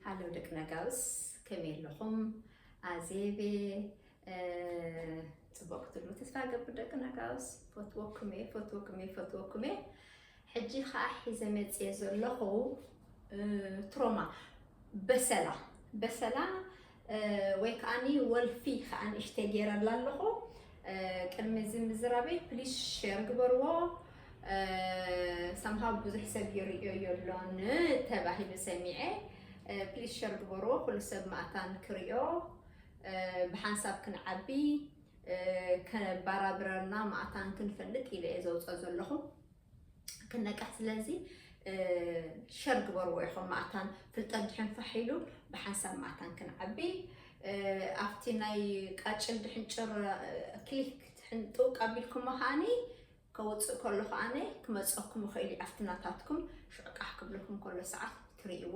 ሃሎ ደቂ ነጋውስ ከመይ ኣለኹም? ኣዜቤ ፅቡቅ ክትብሉ ተስፋ ገብር ደቂ ነጋውስ ፈትወኩም እየ ፈትወኩም እየ ፈትወኩም እየ ሕጂ ከዓ ሒዘ መፅየ ዘለኹ ትሮማ በሰላ በሰላ ወይ ከዓኒ ወልፊ ከኣ ንእሽተይ ገይረላ ኣለኹ ቅድሚ እዚ ምዝራበይ ፕሊስ ሼር ግበርዎ ሰምሃው ብዙሕ ሰብ ይርእዮ የሎን ተባሂሉ ሰሚዐ ፕሊስ ሸር ግበርዎ ኩሉ ሰብ ማእታን ክርዮ ብሓንሳብ ክንዓቢ ከባራብረርና ማእታን ክንፈልጥ ኢለ እየ ዘውፅኦ ዘለኹ ክነቅሕ ስለዚ ሸር ግበርዎ ኢኹም ማእታን ፍልጠት ድሕን ፋሕ ኢሉ ብሓንሳብ ማእታን ክንዓቢ ኣብቲ ናይ ቃጭል ድሕን ጭር ክሊክ ድሕን ጥውቅ ኣቢልኩሞ ከዓኒ ከውፅእ ከሎ ከዓኒ ክመፀኩም ይኽእል እዩ ኣብቲ ናታትኩም ሽዑ ቃሕ ክብለኩም ከሎ ሰዓት ትርእይዎ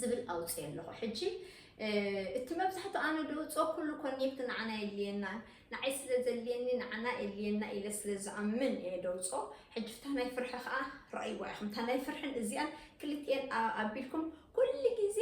ዝብል ኣውፅኤ ኣለኹ ሕጂ እቲ መብዛሕትኡ ኣነ ድውፅኦ ኩሉ ኮኔክት ንዓና የድልየና ንዓይ ስለ ዘድልየኒ ንዓና የድልየና ኢለ ስለ ዝኣምን እየ ደውፅኦ ሕጂ ፍታ ናይ ፍርሒ ከዓ ረኣይዋ ኢኹም እታ ናይ ፍርሕን እዚኣን ክልትኤን ኣቢልኩም ኩሉ ግዜ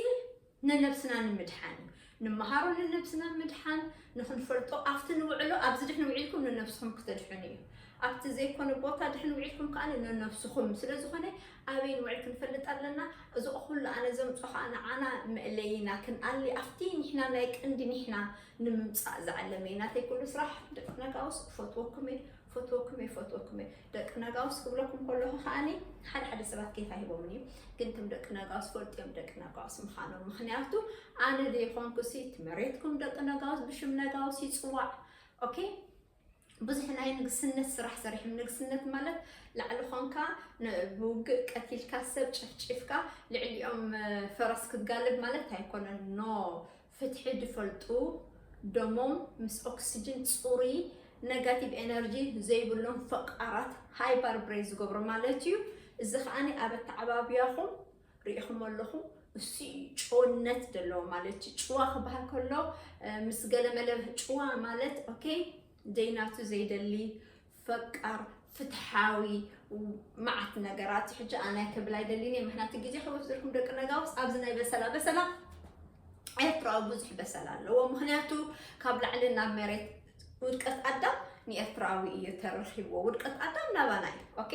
ነነብስና ንምድሓን እዩ ንመሃሮ ንነብስና ምድሓን ንኽንፈልጦ ኣብቲ ንውዕሎ ኣብዚ ድሕን ውዒልኩም ንነብስኹም ክተድሕኑ እዩ ኣብቲ ዘይኮነ ቦታ ድሕን ውዒልኩም ከኣ ንነብስኹም ስለ ዝኾነ ኣበይ ንውዕል ክንፈልጥ ኣለና እዚ ኩሉ ኣነ ዘምጾ ከኣ ንዓና መእለይና ክንኣሊ ኣብቲ ኒሕና ናይ ቀንዲ ኒሕና ንምምጻእ ዝዓለመ እዩ ናተይ ኩሉ ስራሕ ደቂ ነጋውስ እፈትወኩም እየ ፈትወኩም እየ ፈትወኩም እየ ደቂ ነጋውስ ክብለኩም ከለኹ ከዓኒ ሓደ ሓደ ሰባት ኬፍ ኣይህቦምን እዩ ግን ከም ደቂ ነጋውስ ፈልጡ እዮም ደቂ ነጋውስ ምዃኖም ምክንያቱ ኣነ ዘይኮንኩ ሲ እቲ መሬትኩም ደቂ ነጋውስ ብሽም ነጋውስ ይፅዋዕ ኦኬ ብዙሕ ናይ ንግስነት ስራሕ ሰሪሕም ንግስነት ማለት ላዕሊ ኮንካ ን- ብውግእ ቀቲልካ ሰብ ጨፍጪፍካ ልዕሊኦም እ፣ ፈረስ ክትጋልብ ማለት ኣይኮነን ኖ ፍትሒ ድፈልጡ ደሞም ምስ ኦክስጅን ጽሩይ ነጋቲቭ ኤነርጂ ዘይብሎም ፈቃራት ሃይፐር ብሬን ዝገብሮ ማለት እዩ። እዚ ከኣ ኣብ ኣተዓባብያኹም ርኢኹሞ ኣለኹም እሱ እዩ ጭውነት ዘለዎ ማለት እዩ። ጭዋ ክበሃል ከሎ ምስ ገለመለ ጭዋ ማለት ኦኬ ዘይናቱ ዘይደሊ ፈቃር ፍትሓዊ መዓት ነገራት ሕጂ ኣናይ ክብል ኣይደሊን እየ ምክንያቱ ግዜ ከወስደልኩም ደቂ ነጋውስ ኣብዚ ናይ በሰላ በሰላ ኤርትራዊ ብዙሕ በሰላ ኣለዎ ምክንያቱ ካብ ላዕሊ ናብ መሬት ውድቀት ኣዳም ንኤርትራዊ እዩ ተረኪብዎ ውድቀት ኣዳም ናባና እዩ ኦኬ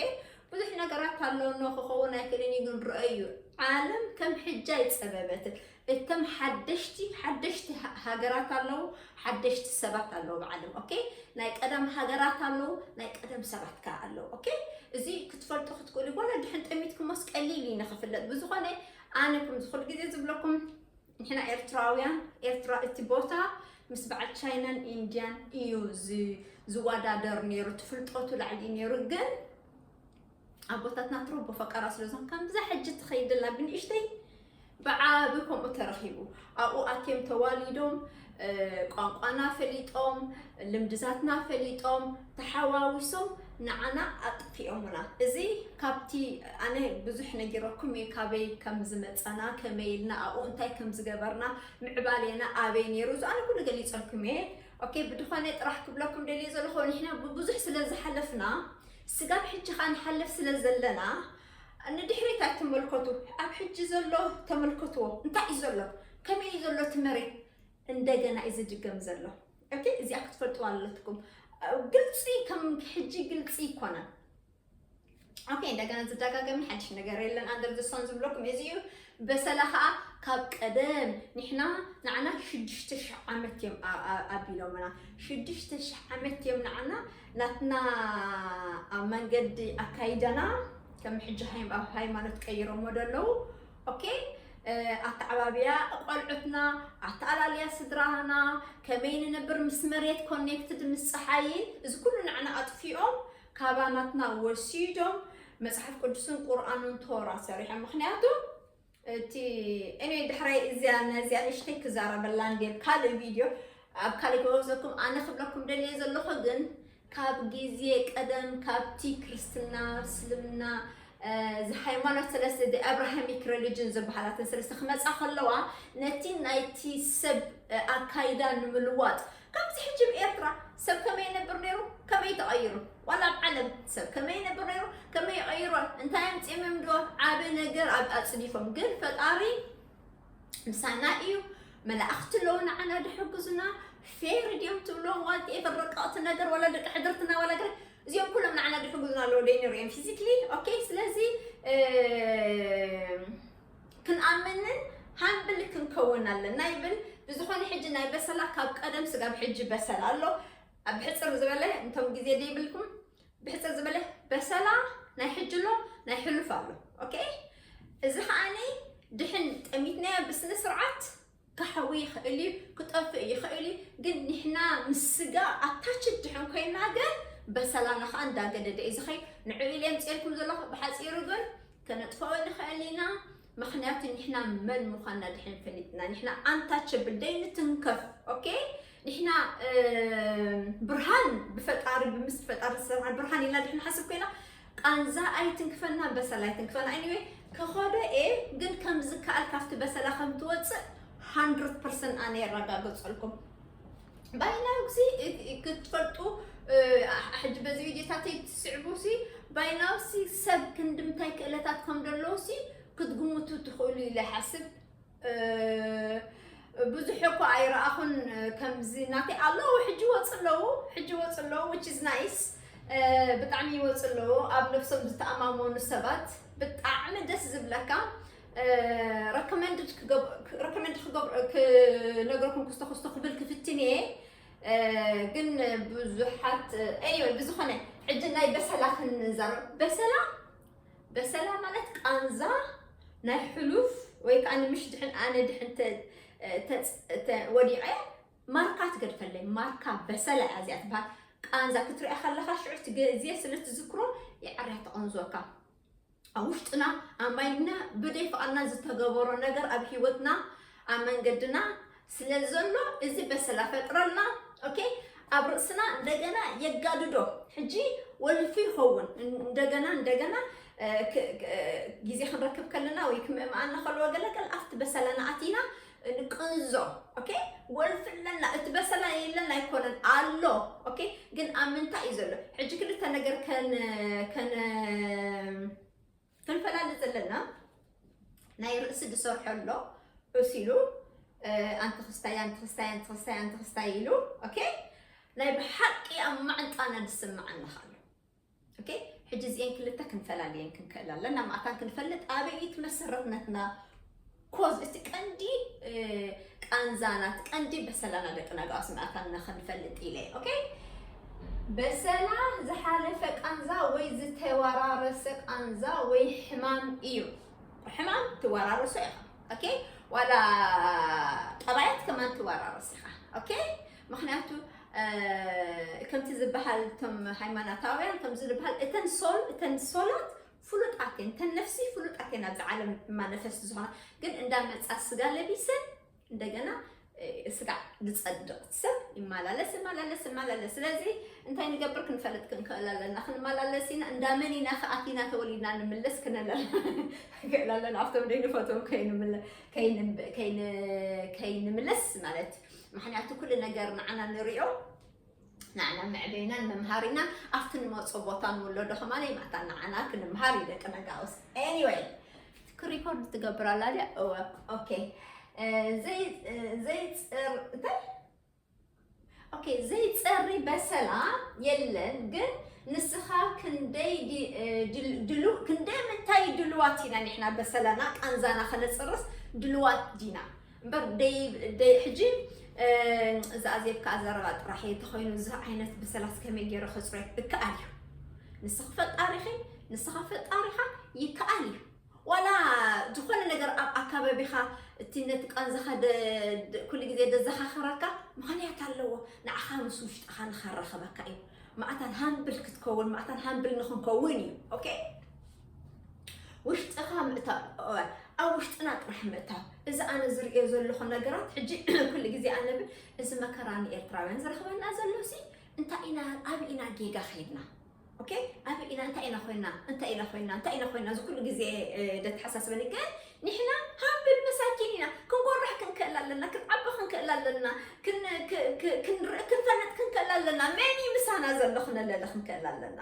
ብዙሕ ነገራት ኣለውኖ ክኸውን ኣይክእልን እዩ ግን ረአዩ ዓለም ከም ሕጃ ይፀበበትን እተም ሓደሽቲ ሓደሽቲ ሃገራት ኣለዉ ሓደሽቲ ሰባት ኣለዉ ብዓለም ኦኬ ናይ ቀደም ሃገራት ኣለዉ ናይ ቀደም ሰባት ከ ኣለዉ ኦኬ እዚ ክትፈልጡ ክትክእሉ ጎለ ድሕን ጠሚትኩሞስ ቀሊል እዩ ንክፍለጥ ብዝኾነ ኣነ ከም ዝኹሉ ግዜ ዝብለኩም ንሕና ኤርትራውያን ኤርትራ እቲ ቦታ ምስ በዓል ቻይናን ኢንድያን እዩ ዝወዳደር ነይሩ ትፍልጠቱ ላዕሊ ነይሩ ግን ኣቦታትና ትሮቦ ፈቀራ ስለዞም ከምዛ ሕጂ ትኸይድላ ብንእሽተይ ብዓቢ ከምኡ ተረኺቡ ኣብኡ ኣትዮም ተዋሊዶም ቋንቋና ፈሊጦም ልምድታትና ፈሊጦም ተሓዋዊሶም ንዓና ኣጥፊኦምና እዚ ካብቲ ኣነ ብዙሕ ነጊረኩም እየ ካበይ ከም ዝመፀና ከመይ ኢልና ኣብኡ እንታይ ከም ዝገበርና ምዕባሌና ኣበይ ነይሩ እዚ ኣነ ኩሉ ገሊፀልኩም እየ ኦኬ ብድኾነ ጥራሕ ክብለኩም ደልየ ዘለኹ ንሕና ብብዙሕ ስለ ዝሓለፍና ስጋብ ሕጂ ከኣ ንሓልፍ ስለ ዘለና ንድሕሪት ኣይትመልከቱ ኣብ ሕጂ ዘሎ ተመልከትዎ እንታይ እዩ ዘሎ ከመይ እዩ ዘሎ እቲ መሬት እንደገና እዩ ዝድገም ዘሎ ኦኬ እዚኣ ክትፈልጥዋ ኣለትኩም ግልፂ ከም ሕጂ ግልፂ ይኮነን ኦኬ እንደገና ዝደጋገም ሓድሽ ነገር የለን ኣንደር ዘሳን ዝብለኩም እዚ እዩ በሰላ ከዓ ካብ ቀደም ንሕና ንዓና ሽዱሽተ ሽሕ ዓመት እዮም ኣቢሎምና ሽዱሽተ ሽሕ ዓመት እዮም ንዓና ናትና ኣብ መንገዲ ኣካይዳና ከም ሕጂ ኣብ ሃይማኖት ቀይሮሞ ዶ ኣለዉ ኦኬ ኣተዓባብያ ቆልዑትና ኣተኣላልያ ስድራና ከመይ ንነብር ምስ መሬት ኮኔክትድ ምስ ፀሓይን እዚ ኩሉ ንዓና ኣጥፊኦም ካባናትና ወሲዶም መጽሓፍ ቅዱስን ቁርኣንን ቶራ ሰሪሖም ምክንያቱ እቲ እኔ ድሕራይ እዚያ ነዚያ ንሽተይ ክዛረበላ እንዲ ኣብ ካልእ ቪድዮ ኣብ ካልእ ክወዘኩም ኣነ ክብለኩም ደልየ ዘለኹ ግን ካብ ግዜ ቀደም ካብቲ ክርስትና እስልምና ሃይማኖት ሰለስተ ደ ኣብራሃሚክ ሬሊጅን ዝበሃላትን ሰለስተ ክመፃ ከለዋ ነቲ ናይቲ ሰብ ኣካይዳ ንምልዋጥ ከምዚ ሕጂ ብ ኤርትራ ሰብ ከመይ ይነብር ነይሩ ከመይ ተቀይሩ ዋላ ኣብ ዓለም ሰብ ከመይ ይነብር ነይሩ ከመይ ይቀይሮ እንታይ ኣምጺኦም እዮም ዶ ዓቢ ነገር ኣብ ኣጽዲፎም ግን ፈጣሪ ምሳና እዩ መላእኽቲ ኣለዉ ንዓና ድሕግዙና ፌር ድዮም ትብሎም ዋልት ኤፈር ረቀቕቲ ነገር ዋላ ደቂ ሕድርትና ዋላ ገለ እዚኦም ኩሎም ንዓና ድሕግዙና ኣለዉ ደይ ነይሩ እዮም ፊዚክሊ ኦኬ ስለዚ ክንኣምንን ሃምብል ክንከውን ኣለና ይብል። ብዝኾነ ሕጂ ናይ በሰላ ካብ ቀደም ስጋብ ሕጂ በሰላ ኣሎ። ብሕፅር ዝበለ እንቶም ግዜ ዘይብልኩም ብሕፅር ዝበለ በሰላ ናይ ሕጂ ኣሎ ናይ ሕሉፍ ኣሎ። ኦኬ እዚ ከዓኒ ድሕን ጠሚትናዮ ብስነ ስርዓት ክሓዊ ይኽእል እዩ ክጠፍእ ይኽእል እዩ ግን ንሕና ምስ ስጋ ኣታችድ ድሕን ኮይና ግን በሰላና ከዓ እንዳገደደ እዩ ዝኸይ ንዕኡ ኢለ የምፅኤልኩም ዘለኹ ብሓፂሩ ግን ከነጥፍኦ ንኽእል ኢና ምክንያቱ ንሕና መን ምዃንና ድሕን ፈሊጥና ንሕና ኣንታቸብል ደይንትንከፍ ኦኬ ንሕና ብርሃን ብፈጣሪ ብምስጢር ፈጣሪ ዝተሰርሐ ብርሃን ኢልና ድሕና ሓስብ ኮይና ቃንዛ ኣይትንክፈና በሰላ ኣይትንክፈና ኢኒወይ ከኸዶ እየ ግን ከም ዝከኣል ካብቲ በሰላ ከም ትወፅእ ሃንድረድ ፐርሰንት ኣነ የረጋገፀልኩም ባይናዊ ግዜ ክትፈልጡ ሕጂ በዚ ቪድዮታተይ ትስዕቡ ሲ ባይናዊ ሲ ሰብ ክንዲ ምንታይ ክእለታት ከም ዘለዎ ሲ ክትግምቱ ትኽእሉ ኢለ ይሓስብ ብዙሕ እኮ ኣይረኣኹን ከምዚ ናተይ ኣለዉ ሕጂ ይወፁ ኣለዉ ሕጂ ይወፁ ኣለዉ ዊች ኢዝ ናይስ ብጣዕሚ ይወፁ ኣለዉ ኣብ ነብሶም ዝተኣማመኑ ሰባት ብጣዕሚ ደስ ዝብለካ ረኮመንድ ረኮመንድ ክነገርኩም ክስቶ ክስቶ ክብል ክፍትን እየ ግን ብዙሓት እዮ ብዝኾነ ሕጂ ናይ በሰላ ክንዛረብ በሰላ በሰላ ማለት ቃንዛ ናይ ሕሉፍ ወይ ከዓ ንምሽ ድሕን ኣነ ድሕን ወዲቐ ማርካ ትገድፈለይ ማርካ በሰላ እያ እዚኣ ትበሃል ቃንዛ ክትሪኣ ከለካ ሽዑ እቲ ግዜ ስለ ትዝክሮ ይዓርያ ተቐንዞካ ኣብ ውሽጥና ኣብ ማይድና ብደይ ፍቓድና ዝተገበሮ ነገር ኣብ ሂወትና ኣብ መንገድና ስለ ዘሎ እዚ በሰላ ፈጥረልና ኦኬ ኣብ ርእስና እንደገና የጋድዶ ሕጂ ወልፊ ይኸውን እንደገና እንደገና ግዜ ክንረክብ ከለና ወይ ክምእምኣና ከለዎ ገለገል ኣብቲ በሰላና ኣቲና ንቅንዞ ኦኬ ወልፊ ኣለና እቲ በሰላ የለን ኣይኮነን ኣሎ ኦኬ ግን ኣብ ምንታይ እዩ ዘሎ ሕጂ ክልተ ነገር ከን ከን ክንፈላለ ዘለና ናይ ርእሲ ዝሰርሖ ኣሎ ዑስ ኢሉ ኣንቲ ክስታይ ኣንቲ ክስታይ ኣንቲ ክስታይ ኣንቲ ክስታይ ኢሉ ኦኬ ናይ ብሓቂ ኣብ ማዕንጣና ዝስምዓና ኣሎ ኦኬ ሕጂ እዚኤን ክልተ ክንፈላልየን ክንክእል ኣለና ማዕታን ክንፈልጥ ኣበይ ትመሰረትነትና ኮዝ እቲ ቀንዲ ቃንዛና እቲ ቀንዲ በሰላና ደቂ ናጋዋ ስምኣታንና ክንፈልጥ ኢለ ኦኬ በሰላ ዝሓለፈ ቃንዛ ወይ ዝተወራረሰ ቃንዛ ወይ ሕማም እዩ ሕማም ትወራረሶ ኢኻ ኦኬ ዋላ ጠባያት ከማን ትወራረስ ኢኻ ኦኬ ምክንያቱ ከምቲ ዝበሃል እቶም ሃይማኖታውያን ከምዚ ዝበሃል እተን ሶል እተን ሶላት ፍሉጥ ኣቴን ተን ነፍሲ ፍሉጥ ኣቴን ኣብዚ ዓለም ማነፈስት ዝኾና ግን እንዳመፃ ስጋ ለቢሰን እንደገና ስጋ ዝፀድቕ ሰብ ይመላለስ ይመላለስ ይመላለስ ስለዚ እንታይ ንገብር ክንፈልጥ ክንክእል ኣለና ክንመላለስ ኢና እንዳመን ኢና ከኣቲና ተወሊድና ንምለስ ክነለል ክእል ኣለና ኣብቶም ደይንፈትዎም ከይንምለስ ማለት ምክንያቱ ኩሉ ነገር ንዓና ንሪኦ ንዓና መዕበይናን መምሃሪናን ኣብቲ ንመርጾ ቦታ ንውለዶ ከማን ይማታ ንዓና ክንምሃር እዩ ደቂ ነጋውስ ኤኒወይ ክሪኮርድ ትገብር ኣላ ድያ እወ ኦኬ ዘይፅር እንታይ ኦኬ ዘይፀሪ በሰላ የለን ግን ንስኻ ክንደይ ድሉ ክንደይ ምንታይ ድልዋት ኢና ንሕና በሰላና ቃንዛና ከነፅርስ ድልዋት ዲና እምበር ደይ ደይ ሕጂ እዚ ኣዜብካ ኣዘረባ ጥራሕ እየ ተኮይኑ እዚ ዓይነት ብሰላስ ከመይ ገይረ ከፅሮ እከኣል እዩ ንስኺ ፈጣሪኺ ንስኻ ፈጣሪኻ ይከኣል እዩ ዋላ ዝኾነ ነገር ኣብ ኣካባቢኻ እቲ ነቲ ቃንዛኻ ኩሉ ግዜ ደዘኻኽረካ ምኽንያት ኣለዎ ንዓኻ ምስ ውሽጥኻ ንኸራኸበካ እዩ ማዕታን ሃምብል ክትከውን ማዕታን ሃምብል ንክንከውን እዩ ኦኬ ውሽጥኻ ምእታው እወ ኣብ ውሽጥና ጥራሕ ምእታው እዚ ኣነ ዝርእዮ ዘለኹ ነገራት ሕጂ ኩሉ ግዜ ኣነ ብል እዚ መከራ ንኤርትራውያን ዝረኽበና ዘሎ ሲ እንታይ ኢና ኣብ ኢና ጌጋ ከይድና ኦኬ ኣብ ኢና እንታይ ኢና ኮይና እንታይ ኢና ኮይና እንታይ ኢና ኮይና እዚ ኩሉ ግዜ ደተሓሳስበኒ ግን ንሕና ሃብል መሳኪን ኢና ክንጎርሕ ክንክእል ኣለና ክንዓቢ ክንክእል ኣለና ክንርኢ ክንፈልጥ ክንክእል ኣለና መን እዩ ምሳና ዘሎ ክነለለ ክንክእል ኣለና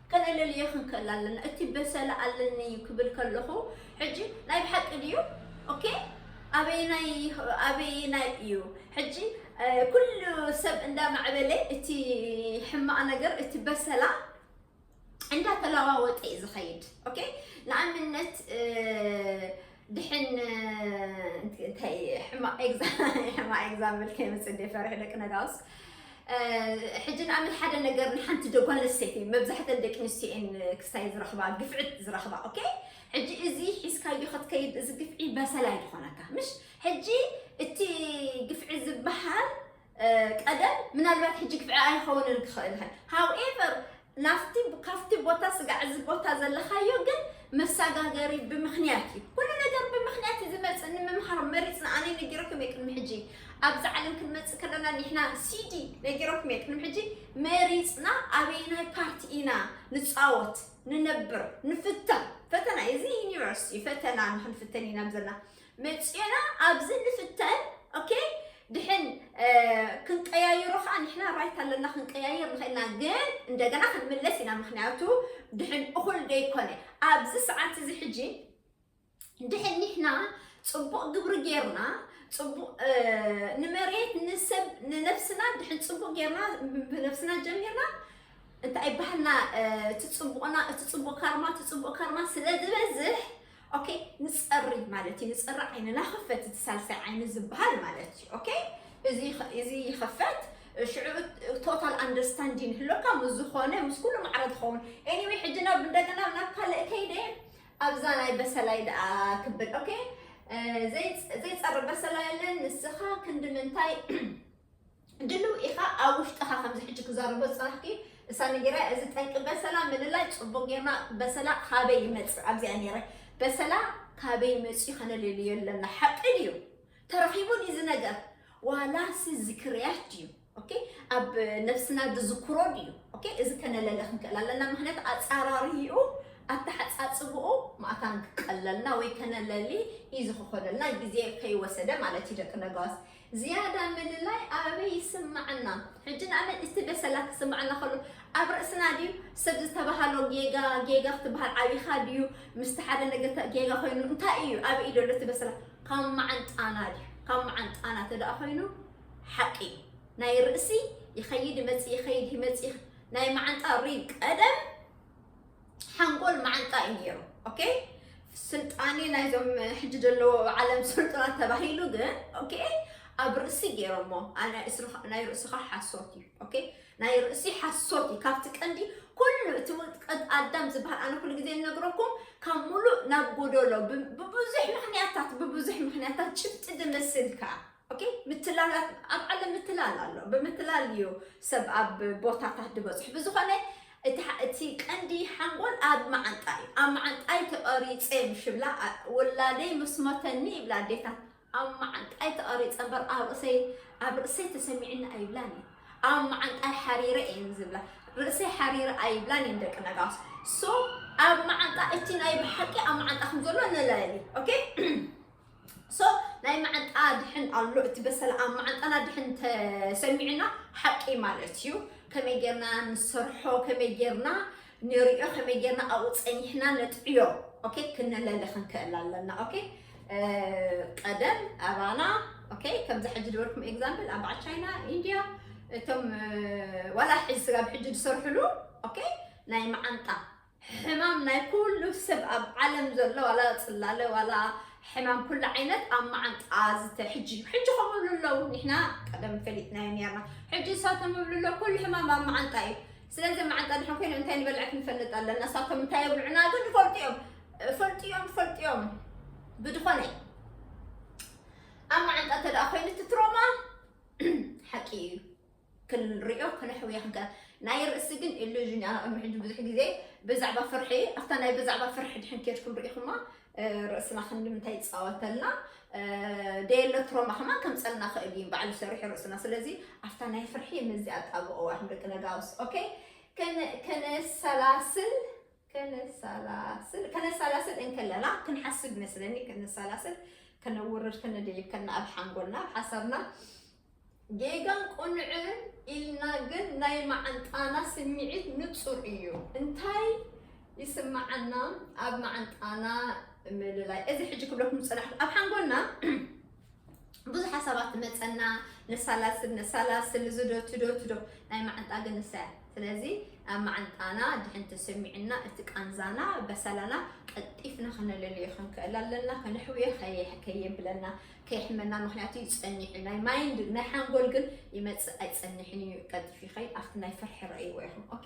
ከነለልዮ ክንክእል ኣለና እቲ በሰላ ኣለኒ እዩ ክብል ከለኹ ሕጂ ናይ ብሓቂ ድዩ ኦኬ ኣበየናይ ኣበየናይ እዩ ሕጂ ኩሉ ሰብ እንዳማዕበለ እቲ ሕማቕ ነገር እቲ በሰላ እንዳተለዋወጠ እዩ ዝኸይድ ኦኬ ንኣብነት ድሕን እንታይ ሕማቕ ኤግዛምፕል ከይመፅእ እንደ ፈርሒ ደቂ ነጋውስ ሕጂ ንኣምን ሓደ ነገር ንሓንቲ ዶ ጓል ኣንስተይቲ መብዛሕተን ደቂ ኣንስትዮ እየን ክስታይ ዝረኽባ ግፍዕት ዝረኽባ ኦኬ ሕጂ እዚ ሒዝካዮ ክትከይድ እዚ ግፍዒ በሰል ኣይድኾነካ ምሽ ሕጂ እቲ ግፍዒ ዝበሃል ቀደም ምናልባት ሕጂ ግፍዒ ኣይኸውንን ክኽእል ሀ however ናፍቲ ካፍቲ ቦታ ስጋዕ እዚ ቦታ ዘለኻዮ ግን መሰጋገሪ ብምክንያት እዩ ኩሉ ነገር ብምክንያት እዩ ዝመፅእ ንምምሃር መሪፅና ኣነ ነጊረኩም እየ ቅድሚ ሕጂ ኣብዚ ዓለም ክንመፅእ ከለና ንሕና ሲዲ ነጊረኩም እየ ቅድሚ ሕጂ መሪፅና ኣበይናይ ፓርቲ ኢና ንፃወት ንነብር ንፍተን ፈተና እዚ ዩኒቨርሲቲ እዩ ፈተና ንክንፍተን ኢና ዘለና መጺእና ኣብዚ ንፍተን ኦኬ ድሕን ክንቀያይሮ ከዓ ንሕና ራይት ኣለና ክንቀያይር ንኽእልና ግን እንደገና ክንምለስ ኢና ምክንያቱ ድሕን እኹል ደይኮነ ኣብዚ ሰዓት እዚ ሕጂ ድሕን ንሕና ፅቡቅ ግብሪ ጌርና ፅቡቅ ንመሬት ንሰብ ንነብስና ድሕን ፅቡቅ ጌርና ብነብስና ጀሚርና እንታይ ይበሃልና እቲ ፅቡቅና እቲ ፅቡቅ ካርማ እቲ ፅቡቅ ካርማ ስለ ዝበዝሕ ኦኬ ንጸሪ ማለት እዩ ንጸሪ ዓይንና ክፈት እቲ ሳልሳይ ዓይኒ ዝበሃል ማለት እዩ ኦኬ እዚ ይኸፈት ሽዑ ቶታል ኣንደርስታንዲን ህሎካ ምስ ዝኾነ ምስ ኩሉ ማዕረ ትኸውን ኤኒዌይ ሕጂ ናብ እንደገና ናብ ካልእ ከይደ ኣብዛ ናይ በሰላይ ደኣ ክብል ኦኬ ዘይፀርብ በሰላይ ኣለን ንስኻ ክንዲ ምንታይ ድልው ኢኻ ኣብ ውሽጥኻ ከምዚ ሕጂ ክዛረቦ ዝጸናሕኪ እሳ ነጊራ እዚ ጠንቂ በሰላ ምልላይ ጽቡቅ ጌርና በሰላ ካበይ ይመጽእ ኣብዚኣ ነረ በሰላ ካበይ መጽዩ ከነለልዮ ኣለና ሓቂ ድዩ ተረኺቡ ድዩ እዚ ነገር ዋላሲ ዝክርያት ድዩ ኦኬ ኣብ ነፍስና ዝዝክሮ ድዩ ኦኬ እዚ ከነለለ ክንክእል ኣለና ምክንያቱ ኣፃራሪኡ ኣተሓፃፅብኡ ማእታን ክቀለልና ወይ ከነለሊ እዩ ዝክኮነልና ግዜ ከይወሰደ ማለት እዩ ደቂ ነጋዋስ ዝያዳ ምልላይ ኣበይ ይስማዓና ሕጂ ንኣብነት ኢስቲ በሰላ ክስማዓና ከሎ ኣብ ርእስና ድዩ ሰብ ዝተባሃሎ ጌጋ ጌጋ ክትባሃል ዓቢኻ ድዩ ምስቲ ሓደ ነገተ ጌጋ ኮይኑ እንታይ እዩ ኣበይ እዩ ዘሎ እቲ በሰላ ካብ መዓንጣና ድዩ ካብ መዓንጣና ተደኣ ኮይኑ ሓቂ እዩ ናይ ርእሲ ይኸይድ ይመጽእ ይኸይድ ይመጽእ ናይ መዓንጣ ሪብ ቀደም ሓንጎል ማዓንጣ እዩ ኔሩ ኦኬ ስልጣኔ ናይዞም ሕጂ ዘለዎ ዓለም ስልጡናት ተባሂሉ ግን ኦኬ ኣብ ርእሲ ገይሮሞ ናይ ርእስኻ ሓሶት እዩ ኦኬ ናይ ርእሲ ሓሶት እዩ ካብቲ ቀንዲ ኩሉ እቲ ውጥቀት ኣዳም ዝበሃል ኣነ ኩሉ ግዜ እነግረኩም ካብ ሙሉእ ናብ ጎደሎ ብብዙሕ ምክንያታት ብብዙሕ ምክንያታት ጭብጢ ድመስልካ ኦኬ ምትላል ኣብ ኣብ ዓለም ምትላል ኣሎ ብምትላል እዩ ሰብ ኣብ ቦታታት ዝበፅሑ ብዝኾነ እቲ ሐ- እቲ ቀንዲ ሓንጎል ኣብ መዓንጣ እዩ ኣብ መዓንጣይ ተቐሪፀ ምሽ ብላ ኣ- ወላደይ ምስ ሞተኒ ይብላ ኣዴታት ኣብ መዓንጣይ ተቐሪፀ እምበር ኣብ ርእሰይ ኣብ ርእሰይ ተሰሚዕኒ ኣይብላን እዩ ኣብ መዓንጣይ ሓሪረ እየን ዝብላ ርእሰይ ሓሪረ ኣይብላን እየን ደቂ ነጋስ ሶ ኣብ መዓንጣ እቲ ናይ ብሓቂ ኣብ መዓንጣ ከም ዘሎ ንለሊ ኦኬ So ናይ መዓንጣ ድሕን ኣሎ እቲ በሰላ ኣብ መዓንጣና ድሕን ተሰሚዑና ሓቂ ማለት እዩ ከመይ ጌርና ንሰርሖ ከመይ ጌርና ንሪኦ ከመይ ጌርና ኣብኡ ፀኒሕና ነጥዕዮ ኦኬ ክነለሊ ክንክእል ኣለና ኦኬ ቀደም ኣባና ኦኬ ከምዚ ሕጂ ዝበልኩም ኤግዛምፕል ኣብ በዓል ቻይና ኢንድያ እቶም ዋላ ሕጂ ስጋ ብሕጂ ዝሰርሕሉ ኦኬ ናይ መዓንጣ ሕማም ናይ ኩሉ ሰብ ኣብ ዓለም ዘሎ ዋላ ጽላለ ዋላ ሕማም ኩሉ ዓይነት ኣብ መዓንጣ ዝተ ሕጂ እዩ ሕጂ ከምኡ ይብሉ ኣለዉ ንሕና ቀደም ፈሊጥናዮ ነርና ሕጂ እሳቶም ይብሉ ኣለዉ ኩሉ ሕማም ኣብ መዓንጣ እዩ ስለዚ መዓንጣ ድሕን ኮይኑ እንታይ ንበልዐት ንፈልጥ ኣለና እሳቶም እንታይ የብልዑና ግን ይፈልጡ እዮም ፈልጡ እዮም ፈልጡ እዮም ብድኾነ ኣብ መዓንጣ እንተ ኮይኑ እቲ ትሮማ ሓቂ እዩ ክንሪኦ ክነሕውዮ ክንከ ናይ ርእሲ ግን ኢሉዥን እያ ቅድሚ ሕጂ ብዙሕ ግዜ ብዛዕባ ፍርሒ ኣብታ ናይ ብዛዕባ ፍርሒ ድሕን ኬድኩም ርኢኹማ ርእስና ክንዲ ምንታይ ይፃወተልና ደየለ ትሮማ ከማን ከምፀልና ክእል እዩ ባዕሉ ሰሪሑ ርእስና ስለዚ ኣብታ ናይ ፍርሒ ምዚ ኣጣብቕዋ ክንደቂ ነጋውስ ኦኬ ከነሰላስል ከነሳላስል ከነሳላስል እንከለና ክንሓስብ ይመስለኒ ከነሳላስል ከነውርድ ከነድይብ ከና ኣብ ሓንጎልና ኣብ ሓሳብና ጌጋን ቁንዕን ኢልና ግን ናይ መዓንጣና ስምዒት ንፁር እዩ እንታይ ይስምዓና ኣብ መዓንጣና ምልላይ እዚ ሕጂ ክብለኩም ዝፅናሕኩ ኣብ ሓንጎልና ብዙሓት ሰባት ትመፀና ነሳላስል ነሳላስል እዚ ዶ እቲ ዶ እቲ ዶ ናይ መዓንጣ ግን ንሳ እያ ስለዚ ኣብ መዓንጣና ድሕን ተሰሚዕና እቲ ቃንዛና በሰላና ቀልጢፍና ከነለልዮ ክንክእል ኣለና ከነሕውዮ ከየብለና ከየሕመና ምክንያቱ ይፀኒዑ ናይ ማይንድ ናይ ሓንጎል ግን ይመፅእ ኣይፀንሕን እዩ ቀልጢፍ ይኸይ ኣብቲ ናይ ፍርሒ ረእይዎ ኢኹም ኦኬ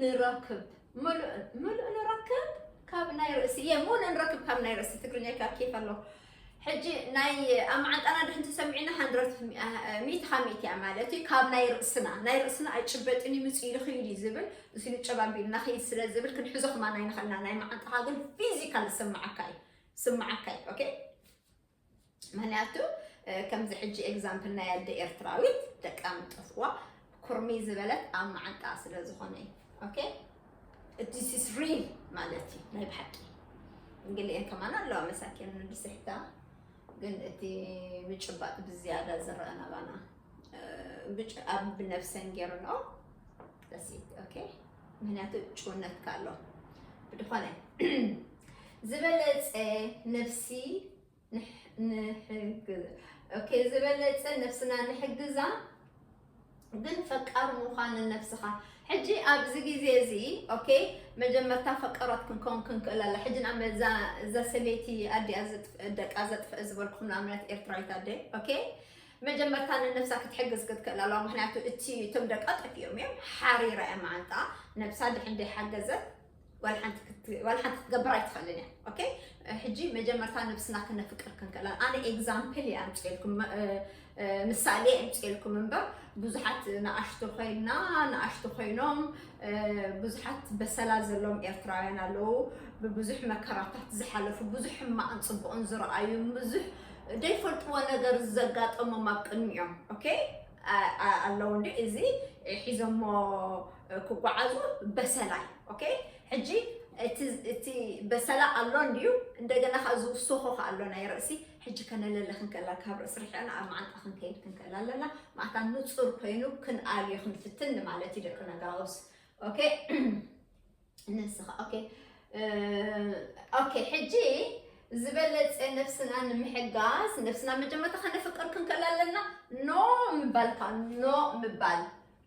ንረክብ ምሉእ ምሉእ ንረክብ ካብ ናይ ርእሲ እየ ሙን ንረክብ ካብ ናይ ርእሲ ትግርኛ ይካ ኬፍ ኣሎ ሕጂ ናይ ኣብ መዓንጣና ድሕን ተሰሚዕና ሃንድረት ሚእቲ ካብ ሚእቲ እያ ማለት እዩ ካብ ናይ ርእስና ናይ ርእስና ኣይጭበጥን እዩ ምፅ ኢሉ ክይድ እዩ ዝብል እዚ ንጨባቢልና ክይድ ስለ ዝብል ክንሕዞ ክማና ይንኽእልና ናይ መዓንጣኻ ግን ፊዚካል ዝስምዓካ እዩ ስምዓካ እዩ ኦኬ ምክንያቱ ከምዚ ሕጂ ኤግዛምፕል ናይ ኣደ ኤርትራዊት ደቃ ምጠፍዋ ኩርሚ ዝበለት ኣብ መዓንጣ ስለ ዝኾነ እዩ ኦኬ ዲስ ኢስ ሪል ማለት እዩ ናይ ብሓቂ እንግሊኤን ከማን ኣለዋ መሳኪን ንድስሕታ ግን እቲ ምጭባጥ ብዝያዳ ዝረአ ናባና ብጭ ኣብ ብነብሰን ገይርንኦ ደስ ኦኬ ምክንያቱ ጭውነትካ ኣሎ ብድኾነ ዝበለጸ ነፍሲ ንሕግዝ ኦኬ ዝበለጸ ነፍስና ንሕግዛ ግን ፈቃር ምዃን ነፍስኻ ሕጂ ኣብዚ ግዜ እዚ ኦኬ መጀመርታ ፈቀራት ክንከውን ክንክእል ኣላ ሕጂ ናብ እዛ እዛ ሰበይቲ ኣዲኣ ደቃ ዘጥፍእ ዝበልኩም ንኣብነት ኤርትራዊት ኣደ ኦኬ መጀመርታ ንነብሳ ክትሕግዝ ክትክእል ኣለዋ ምክንያቱ እቲ እቶም ደቃ ጠፊኦም እዮም ሓሪራ እያ መዓንጣ ነብሳ ድሕን ደይሓገዘት ዋላ ሓንቲ ክት- ዋላ ሓንቲ ክትገብር ኣይትኽእልን እያ ኦኬ ሕጂ መጀመርታ ነብስና ክነፍቅር ክንክእል ኣነ ኤግዛምፕል እየ ኣምፅኤልኩም መ- እ- እ- ምሳሌ ኣምፅኤልኩም እምበር ብዙሓት ንኣሽቱ ኮይና ንኣሽቱ ኮይኖም እ፣ ብዙሓት በሰላ ዘለዎም ኤርትራውያን ኣለዉ ብብዙሕ መከራታት ዝሓለፉ ብዙሕ ሕማቕን ፅቡቕን ዝረኣዩ ብዙሕ ዘይፈልጥዎ ነገር ዘጋጠሞም ኣብ ቅድሚኦም ኦኬ ኣለዉ እንዴ እዚ ሒዞሞ ክጓዓዙ በሰላ ኦኬ ሕጂ እቲ በሰላ ኣሎ እንድዩ እንደገና ከዓ ዝውስኾ ከዓ ኣሎ ናይ ርእሲ ሕጂ ከነለለ ክንከላ ካብ ርእሲ ርሕዕና ኣብ መዓንጣ ክንከይድ ክንከላ ኣለና ማእታ ንፁር ኮይኑ ክንኣልዮ ክንፍትን ማለት እዩ ደቂ ነጋውስ ኦኬ ነስኻ ኦኬ ኦኬ ሕጂ ዝበለፀ ነብስና ንምሕጋዝ ነብስና መጀመርታ ከነፍቅር ክንከል ኣለና ኖ ምባል ካብ ኖ ምባል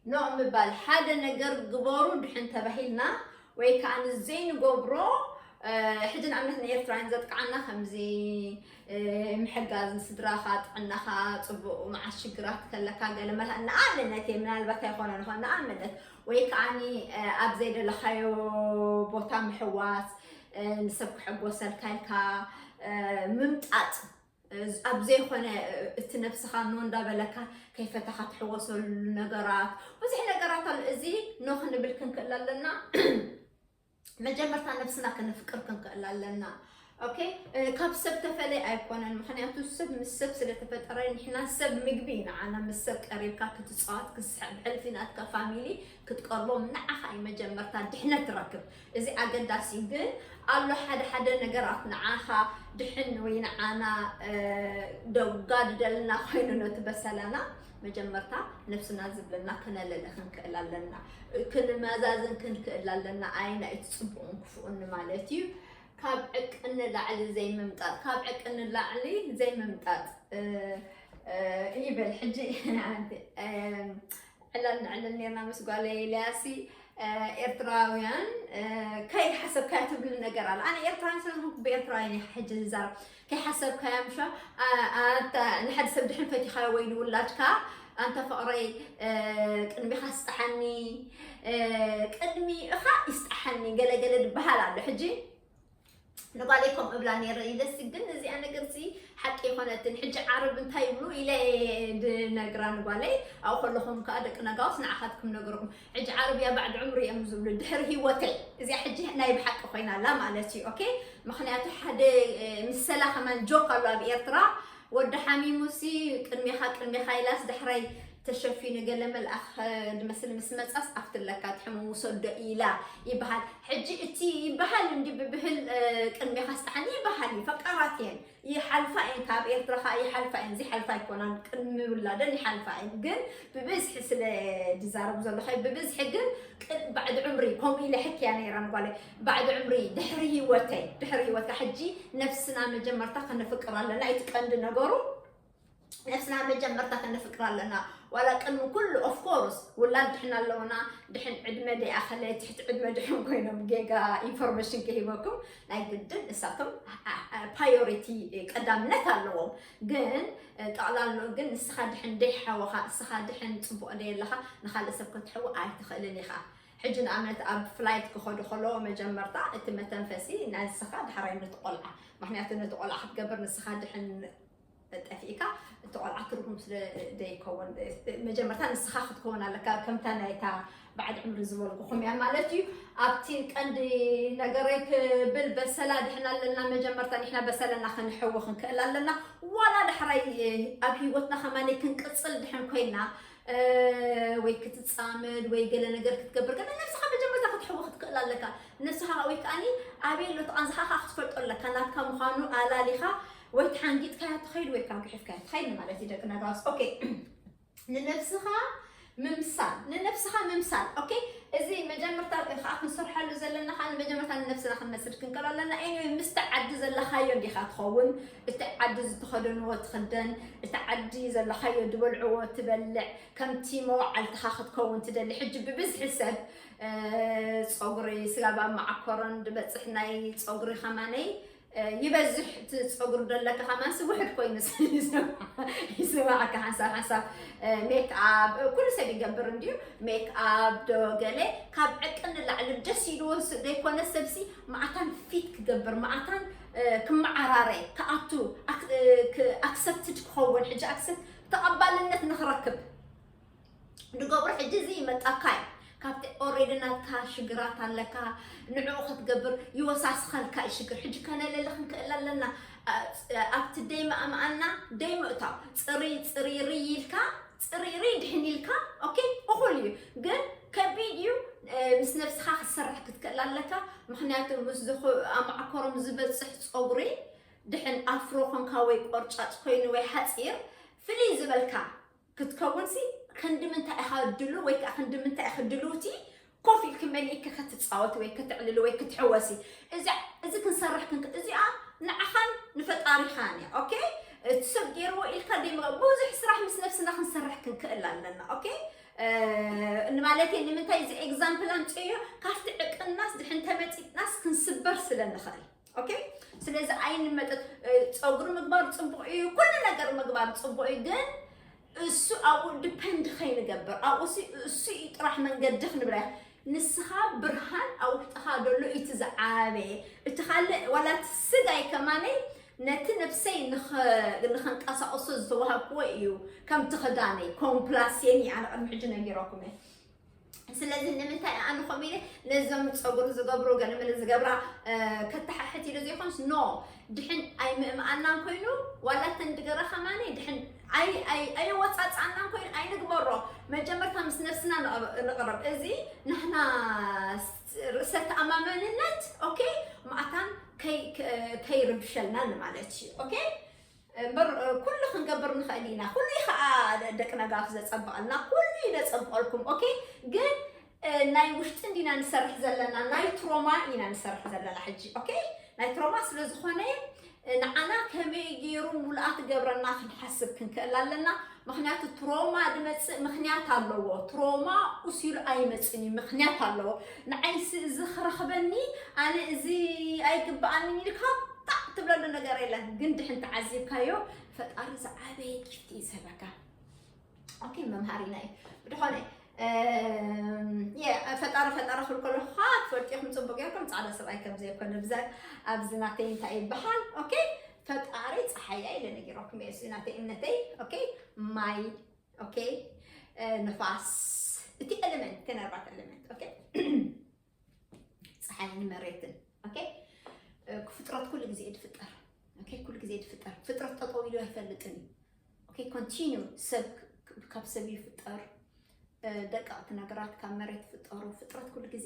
ኖ ምባል ሓደ ነገር ግበሩ ድሕን ተባሂልና ወይ ከዓ ንዘይንገብሮ ሕጂ ንኣብነት ንኤርትራውያን ዘጥቅዓና ከምዚ ምሕጋዝ ንስድራኻ ጥዕናኻ ፅቡቅ መዓስ ሽግራት ከለካ ገለ መላ ንኣብነት እየ ምናልባት ኣይኮነ ንኾን ንኣብነት ወይ ከዓኒ ኣብ ዘይደለኻዮ ቦታ ምሕዋስ፣ ንሰብ ክሕጎሰልካ ኢልካ ምምጣጥ፣ ኣብ ዘይኮነ እቲ ነብስኻ ኖ እንዳበለካ ከይፈታኻ ትሕወሰሉ ነገራት ብዙሕ ነገራት ኣሎ። እዚ ኖ ክንብል ክንክእል ኣለና። መጀመርታ ነብስና ከነፍቅር ክንክእል ኣለና ኦኬ ካብ ሰብ ተፈለይ ኣይኮነን ምክንያቱ ሰብ ምስ ሰብ ስለተፈጠረ ንሕና ሰብ ምግቢ ንዓና ምስ ሰብ ቀሪብካ ክትፃወት ክስሕብ ሕልፊ ናትካ ፋሚሊ ክትቀርቦም ንዓኻ እዩ መጀመርታ ድሕነት ትረክብ እዚ ኣገዳሲ እዩ ግን ኣሎ ሓደ ሓደ ነገራት ንዓኻ ድሕን ወይ ንዓና ደጋድደልና ኮይኑ ነቲ በሰላና መጀመርታ ነብስና ዝብለና ክነለሊ ክንክእል ኣለና ክንመዛዝን ክንክእል ኣለና ኣየናይ እቲ ፅቡቕን ክፉኡን ንማለት እዩ ካብ ዕቅን ንላዕሊ ዘይምምጣጥ ካብ ዕቅን ንላዕሊ ዘይምምጣጥ ይበል ሕጂ ዕላል ንዕልል ነርና ምስ ጓለይ ኢልያሲ ኤርትራውያን ከይሓሰብካዮ ትብሊ ነገር ኣለ ኣነ ኤርትራውያን ስለዝኾንኩ ብኤርትራውያን እየ ሕጂ ዝዛረብ ከይሓሰብካያ ምሸ ኣንታ ንሓደ ሰብ ድሕን ፈቲኻዮ ወይ ንውላድካ ኣንታ ፍቕረይ ቅድሚኻ ስጣሓኒ ቅድሚኻ ይስጣሓኒ ገለገለ ድበሃል ኣሎ ሕጂ ንጓለይ ከምኡ እብላ ነይረ ኢለሲ ግን እዚኣ ነገር እዚ ሓቂ ይኮነትን ሕጂ ዓርብ እንታይ ይብሉ ኢለ ድነግራ ንጓለይ ኣብኡ ከለኹም ከዓ ደቂ ነጋውስ ንዓኻትኩም ነገርኩም ሕጂ ዓረብያ ባዕድ ዕምሪ እዮም ዝብሉ ድሕሪ ሂወተይ እዚኣ ሕጂ ናይ ብሓቂ ኮይና ኣላ ማለት እዩ ኦኬ ምክንያቱ ሓደ ምሰላ ከማን ጆክ ኣሎ ኣብ ኤርትራ ወዲ ሓሚሙሲ ቅድሜኻ ቅድሜኻ ኢላስ ዳሕራይ ተሸፊኑ ገለ መልኣኽ ድመስል ምስ መፃስ ኣፍቲ ኣለካ ትሕሙ ውሰዶ ኢላ ይበሃል ሕጂ እቲ ይበሃል እንዲ ብብህል ቅድሜኻ ስጣሓኒ ይበሃል እዩ ፈቃራት እየን ይሓልፋ እየን ካብ ኤርትራ ከኣ ይሓልፋ እየን ዘይሓልፋ ኣይኮናን ቅድሚ ውላደን ይሓልፋ እየን ግን ብብዝሒ ስለ ዝዛረቡ ዘለኸ ብብዝሒ ግን ባዕዲ ዕምሪ ከምኡ ኢለ ሕክያ ነይራ ንጓለ ባዕዲ ዕምሪ ድሕሪ ህይወተይ ድሕሪ ህይወትካ ሕጂ ነፍስና መጀመርታ ከነፍቅር ኣለና እቲ ቀንዲ ነገሩ ነብስና መጀመርታ ከነፍቅራ ኣለና ዋላ ቅድሚ ኩሉ ኦፍ ኮርስ ውላድ ድሕና ኣለውና ድሕን ዕድመ ደይኣኸለ ትሕቲ ዕድመ ድሕን ኮይኖም ጌጋ ኢንፎርሜሽን ክሂበኩም ናይ ግድን እሳቶም ፓዮሪቲ ቀዳምነት ኣለዎም ግን ጠቕላሎ ግን ንስኻ ድሕን ደይሓወኻ ንስኻ ድሕን ፅቡቕ ደየለኻ ንካልእ ሰብ ከትሕዊ ኣይትኽእልን ኢኻ ሕጂ ንኣብነት ኣብ ፍላይት ክኸዱ ከለዎ መጀመርታ እቲ መተንፈሲ ናንስኻ ድሓራይ ነቲ ቆልዓ ምክንያቱ ነቲ ቆልዓ ክትገብር ንስኻ ድሕን ጠፊእካ እቲ ቆልዓ ትርጉም ስለ ዘይከውን መጀመርታ ንስኻ ክትከውን ኣለካ ከምታ ናይታ በዓል ዕምሪ ዝበልኩኹም እያ ማለት እዩ ኣብቲ ቀንዲ ነገረይ ክብል በሰላ ድሕና ኣለና መጀመርታ ንሕና በሰለና ክንሕዊ ክንክእል ኣለና ዋላ ዳሕራይ ኣብ ሂወትና ከማኒ ክንቅፅል ድሕን ኮይና ወይ ክትፃመድ ወይ ገለ ነገር ክትገብር ከ ነብስኻ መጀመርታ ክትሕዊ ክትክእል ኣለካ ንስኻ ወይ ከዓኒ ኣበይ ኣሎ ተቓንዝኻ ክትፈልጦ ኣለካ ናትካ ምዃኑ ኣላሊኻ ወይ ተሓንጊጥካያ ትኸይድ ወይ ከዓ ግሒፍካያ ትኸይድ ንማለት እዩ ደቂ ነጋስ ኦኬ ንነብስኻ ምምሳል ንነብስኻ ምምሳል ኦኬ እዚ መጀመርታ ከዓ ክንሰርሐሉ ዘለና ከዓ ንመጀመርታ ንነብስና ክንመስል ክንከሎ ኣለና ይ ምስቲ ዓዲ ዘለካዮ እንዲኻ ትኸውን እቲ ዓዲ ዝተኸደንዎ ትኽደን እቲ ዓዲ ዘለካዮ ዝበልዕዎ ትበልዕ ከምቲ መዋዓልትኻ ክትከውን ትደሊ ሕጂ ብብዝሒ ሰብ ፀጉሪ ስጋብ ኣብ መዓኮሮን ዝበፅሕ ናይ ፀጉሪ ከማነይ ይበዝሕ እቲ ፀጉሪ ደለካ ከማንስ ውሕድ ኮይኑ ይስማዓካ ሓንሳብ ሓንሳብ ሜክኣብ ኩሉ ሰብ ይገብር እንድዩ ሜክኣብ ዶ ገለ ካብ ዕቂ ንላዕሊ ደስ ኢልዎ ዘይኮነ ሰብሲ ማዓታን ፊት ክገብር ማዓታን ክመዓራረ ክኣቱ ኣክሰፕትድ ክኸውን ሕጂ ኣክሰፕት ተቐባልነት ንክረክብ ድገብሩ ሕጂ እዚ ይመጻካ እዩ ካብቲ ኦሬዲ ናትካ ሽግራት ኣለካ ንዕኡ ክትገብር ይወሳስኸልካ እዩ ሽግር ሕጂ ከነለሊ ክንክእል ኣለና ኣብቲ ደይ ምኣምኣና ደይ ምእታው ፅሪ ፅሪ ርይ ኢልካ ፅሪ ርይ ድሕን ኢልካ ኦኬ እኹል እዩ ግን ከቢድ እዩ ምስ ነብስኻ ክትሰርሕ ክትክእል ኣለካ ምክንያቱ ምስ ኣማዕኮሮም ዝበፅሕ ፀጉሪ ድሕን ኣፍሮ ኮንካ ወይ ቆርጫጭ ኮይኑ ወይ ሓፂር ፍልይ ዝበልካ ክትከውንሲ ክንዲ ምንታይ ኢኻ ድሉው ወይ ከኣ ክንዲ ምንታይ ኢኺ ድልውቲ ኮፍ ኢልኪ መሊእኪ ክትጻወቲ ወይ ክትዕልሊ ወይ ክትሕወሲ እዚ እዚ ክንሰርሕ ክንክ እዚኣ ንዓኻን ንፈጣሪኻን እያ ኦኬ እቲ ሰብ ገይርዎ ኢልካ ደይምጋ ብዙሕ ስራሕ ምስ ነብስና ክንሰርሕ ክንክእል ኣለና ኦኬ ንማለት እየ ንምንታይ እዚ ኤግዛምፕል ኣምፅዮ ካብቲ ዕቅናስ ድሕን ተመፂጥናስ ክንስበር ስለ ንኽእል ኦኬ ስለዚ ዓይኒ መጠጥ ፀጉሪ ምግባር ፅቡቅ እዩ ኩሉ ነገር ምግባር ፅቡቅ እዩ ግን እሱ ኣብኡ ዲፐንድ ከይንገብር ኣብኡ እሱ እዩ ጥራሕ መንገዲ ክንብላ ንስኻ ብርሃን ኣብ ውሽጥኻ ዘሎ እቲ ዝዓበየ እቲ ካልእ ዋላ እቲ ስጋይ ከማነይ ነቲ ነብሰይ ንኸንቀሳቕሶ ዝተዋሃብክዎ እዩ ከምቲ ክዳነይ ኮምፕላሴን እዩ ኣነ ቅድሚ ሕጂ ነጊረኩም እየ ስለዚ ንምንታይ ኣነ ከምኡ ኢለ ነዞም ፀጉሪ ዝገብሩ ገለመለ ዝገብራ ከተሓሕት ኢሉ ዘይኮንስ ኖ ድሕን ኣይምእምኣናን ኮይኑ ዋላ እተን ድገራ ከማኒ ድሕን ኣየወፃፅኣናን ኮይኑ ኣይንግበሮ መጀመርታ ምስ ነብስና ንቕረብ እዚ ንሕና ርእሰ ተኣማመንነት ኦኬ ማእታን ከይርብሸልና ማለት እዩ ኦኬ እምበር ኩሉ ክንገብር ንኽእል ኢና ኩሉ እዩ ከዓ ደቂ ነጋፍ ዘፀብቐልና ኩሉ እዩ ዘፀብቐልኩም ኦኬ ግን ናይ ውሽጢ እንዲና ንሰርሕ ዘለና ናይ ትሮማ ኢና ንሰርሕ ዘለና ሕጂ ኦኬ ናይ ትሮማ ስለ ዝኾነ ንዓና ከመይ ገይሩ ሙሉኣ ትገብረና ክንሓስብ ክንክእል ኣለና ምክንያቱ ትሮማ ድመፅእ ምክንያት ኣለዎ ትሮማ ኡስ ኢሉ ኣይመፅን እዩ ምክንያት ኣለዎ ንዓይሲ እዚ ክረክበኒ ኣነ እዚ ኣይግበኣንን ኢልካ ጣዕ ትብለሉ ነገር የለን ግን ድሕን ተዓዚብካዮ ፈጣሪ ዝዓበየ ጊፍቲ እዩ ዝህበካ ኦኬ መምሃሪና እዩ ብድኾነ ፈጣሪ ፈጣሪ ክብል ከለኹ ከዓ ትፈልጥኹም ፅቡቅ ጌርኩም ፃዕዳ ሰብኣይ ከም ዘይኮነ ብዛ ኣብዚ ናተይ እንታይ ይበሃል ኦኬ ፈጣሪ ፀሓያ ኢለ ነጊረኩም እየ እዚ ናተይ እምነተይ ኦኬ ማይ ኦኬ ንፋስ እቲ ኤሌመንት ተነርባት ኤሌመንት ኦኬ ፀሓይን መሬትን ኦኬ ፍጥረት ኩሉ ግዜ ትፍጠር ኦኬ ኩሉ ግዜ ትፍጠር ፍጥረት ጠጠው ኢሉ ኣይፈልጥን እዩ ኦኬ ኮንቲኒው ሰብ ካብ ሰብ ይፍጠር ደቀቕቲ ነገራት ካብ መሬት ፍጠሩ ፍጥረት ኩሉ ግዜ